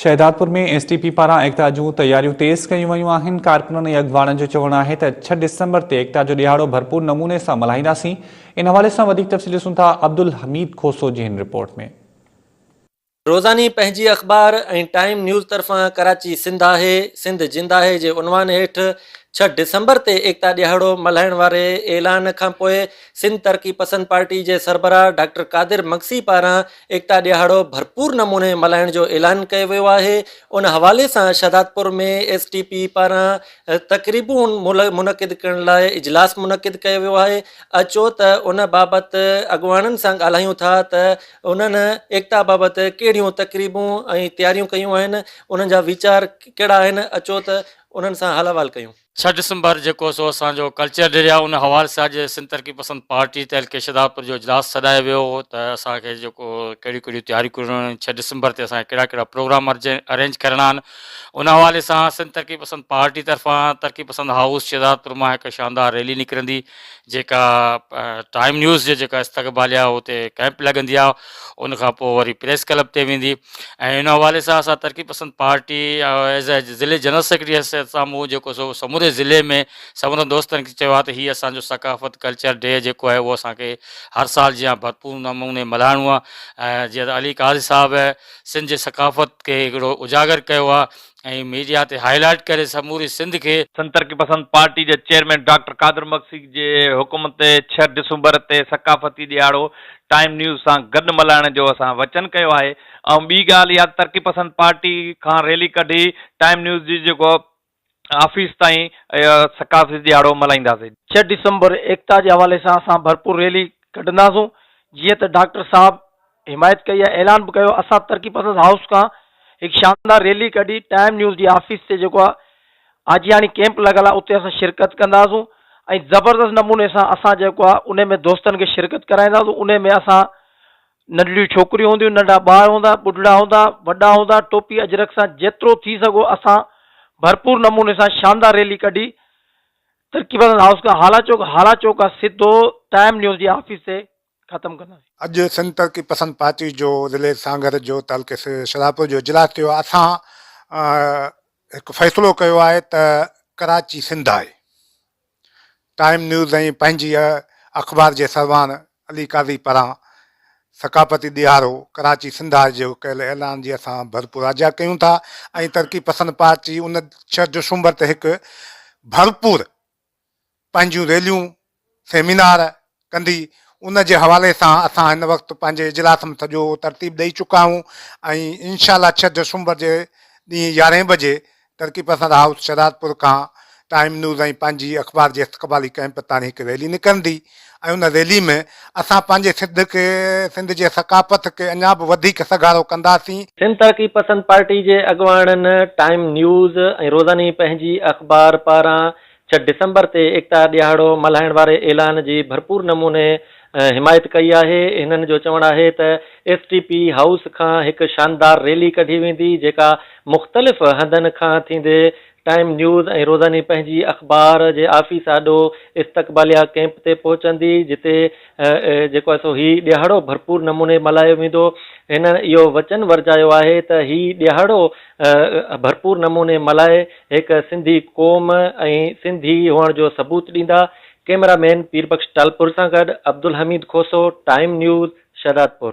Shahdadpur ۾ S T P پاران ايڪتا جون تياريون تيز ڪيون ويون آهن ڪارڪنن ۽ اڳواڻن جو چوڻ آهي ته ڇهه ڊسمبر تي ايڪتا جو ڏهاڙو ڀرپور نموني سان ملهائينداسين ان حوالي سان وڌيڪ تفصيل ڏسون ٿا عبدالحميد کوسو جي هن رپورٽ ۾ روزاني پنهنجي اخبار ۽ ٽائيم نيوز طرفان ڪراچي سنڌ آهي سنڌ جند آهي جي عنوان هيٺ ڇهه ڊسمبر تي ايڪتا ڏيهاڙو ملهائڻ واري اعلان کانپوء سنڌ ترقي پسند پارٽي جي سربراهه ڊاڪٽر قادر مگسي پاران ايڪتا ڏيهاڙو ڀرپور نموني ملهائڻ جو اعلان ڪيو ويو آهي، ان حوالي سان شهدادپور ۾ ايس ٽي پي پاران تقريبون منعقد ڪرڻ لاء اجلاس منعقد ڪيو ويو آهي، اچو ته ان بابت اڳواڻن سان ڳالهايون ٿا ته انهن ايڪتا بابت ڪهڙيون تقريبون ۽ تياريون ڪيون آهن، انهن جا ويچار ڪهڙا آهن، اچو ته انهن سان حال احوال ڪيون. ڇهه ڊسمبر جيڪو سو اسان جو ڪلچر ڊي آهي ان حوالي سان اڄ سنڌ ترقي پسند پارٽي تعلقي شھدادپور جو اجلاس سڏايو ويو هو ته اسان کي جيڪو ڪهڙيون ڪهڙيون تياريون ڪرڻيون آهن ڇهه ڊسمبر تي اسان کي ڪهڙا ڪهڙا پروگرام ارينج ڪرڻا آهن ان حوالي سان سنڌ ترقي پسند پارٽي طرفان ترقي پسند هائوس شھدادپور مان هڪ شاندار ريلي نڪرندي جيڪا ٽائيم نيوز جي جيڪا استقباليه هتي ڪئمپ لڳندي آهي ان کان پوء وري پريس ڪلب تي ويندي ۽ ان حوالي سان اسان Taraqi Pasand party as a ضلعي جنرل سيڪريٽري حيثيت سان مون جيڪو سو سموري ضلعي ۾ سمورن دوستن کي چيو آهي ته هي اسان جو ثقافت ڪلچر ڊي جيڪو آهي اهو اسان کي هر سال جيان ڀرپور نموني ملهائڻو آهي ۽ جيئن علي قاضي صاحب سنڌ جي ثقافت کي هڪڙو اجاگر ڪيو آهي ۽ ميڊيا تي هاء لائيٽ ڪري سموري سنڌ کي. سنڌ ترقي پسند پارٽي جي چيئرمين ڊاڪٽر قادر مگسي جي حڪم تي ڇهه ڊسمبر تي ثقافتي ڏهاڙو ٽائيم نيوز سان گڏ ملهائڻ جو اسان وچن ڪيو آهي ۽ ٻي ڳالهه اها ته ترقي پسند پارٽي کان ريلي ڪڍي ٽائيم نيوز جي جيڪو آفيس تائين ثقافتي ڏهاڙو ملهائينداسين. ڇهه ڊسمبر ايڪتا جي حوالي سان اسان ڀرپور ريلي ڪڍنداسون جيئن ته ڊاڪٽر صاحب. حمايت ڪئي ۽ اعلان به ڪيو اسان ترقي پسند هائوس کان هڪ شاندار ريلي ڪڍي ٽائيم نيوز جي آفيس تي جيڪو آجياڻي ڪيمپ لڳل آهي اتي اسان شرڪت ڪنداسون ۽ زبردست نموني سان اسان جيڪو آهي ان ۾ دوستن کي شرڪت ڪرائينداسون ان ۾ اسان ننڍڙيون ڇوڪريون هونديون ننڍا ٻار هوندا ٻڍڙا هوندا وڏا هوندا ٽوپي اجرڪ سان جيترو ٿي سگهو اسان ڀرپور نموني سان شاندار ريلي ڪڍي ترقي پسند هائوس کان هالا چوڪ هالا چوڪ کان سڌو ٽائيم نيوز جي آفيس تي ختم ڪنداسين. اڄ سنڌ ترقي پسند پارٽي جو ضلعي سانگهڙ جو تعلقي شرارپور جو اجلاس ٿيو اسان هڪ فيصلو ڪيو آهي ته ڪراچي سنڌ آهي ٽائيم نيوز ۽ پنهنجي اخبار جي سرواڻ علي قاضي پاران ثقافتي ڏيهارو ڪراچي سنڌ آهي جو ڪيل اعلان جي اسان ڀرپور آجيا ڪيون ٿا ۽ ترقي پسند پارٽي ان ڇهه دسمبر تي هڪ ڀرپور پنهنجيون ريليون، سيمينار ڪندي، ان جي حوالي سان اسان هن وقت پنهنجي اجلاس ۾ سڄو ترتيب ڏئي چڪا آهيون ۽ انشاء الله ڇهه دسمبر جي ڏينهن يارهين بجي ترقي پسند هائوس شهدادپور کان ٽائيم نيوز ۽ پنهنجي اخبار جي استقبالي ڪئمپ تائڻي هڪ ريلي نڪرندي ۽ ان ريلي ۾ اسان پنهنجي سڌ کي سنڌ جي ثقافت کي اڃا به وڌيڪ سگهارو ڪنداسين. سنڌ ترقي پسند پارٽي جي اڳواڻن ٽائيم نيوز ۽ روزاني پنهنجي اخبار پاران ڇهه ڊسمبر تي ايڪتا ڏيهاڙو ملهائڻ واري اعلان جي ڀرپور نموني حمايت ڪئي آهي، هنن جو چوڻ آهي ته ايس ٽي پي هائوس کان هڪ شاندار ريلي ڪڍي ويندي جيڪا مختلف هنڌن کان ٿيندي ٽائيم نيوز ۽ روزاني پنهنجي اخبار جي آفيس آڏو استقباليه ڪئمپ تي پهچندي جتي جيڪو سو هي ڏيهاڙو ڀرپور نموني ملهايو ويندو، هنن اهو وچن ورجايو آهي ته هي ڏيهاڙو ڀرپور نموني ملهائي. هڪ سنڌي قوم ۽ سنڌي هئڻ جو ثبوت ڏيندا، ڪيمرا مين پير بخش ٽالپر سان گڏ عبدالحميد کوسو، ٽائيم نيوز، شهدادپور.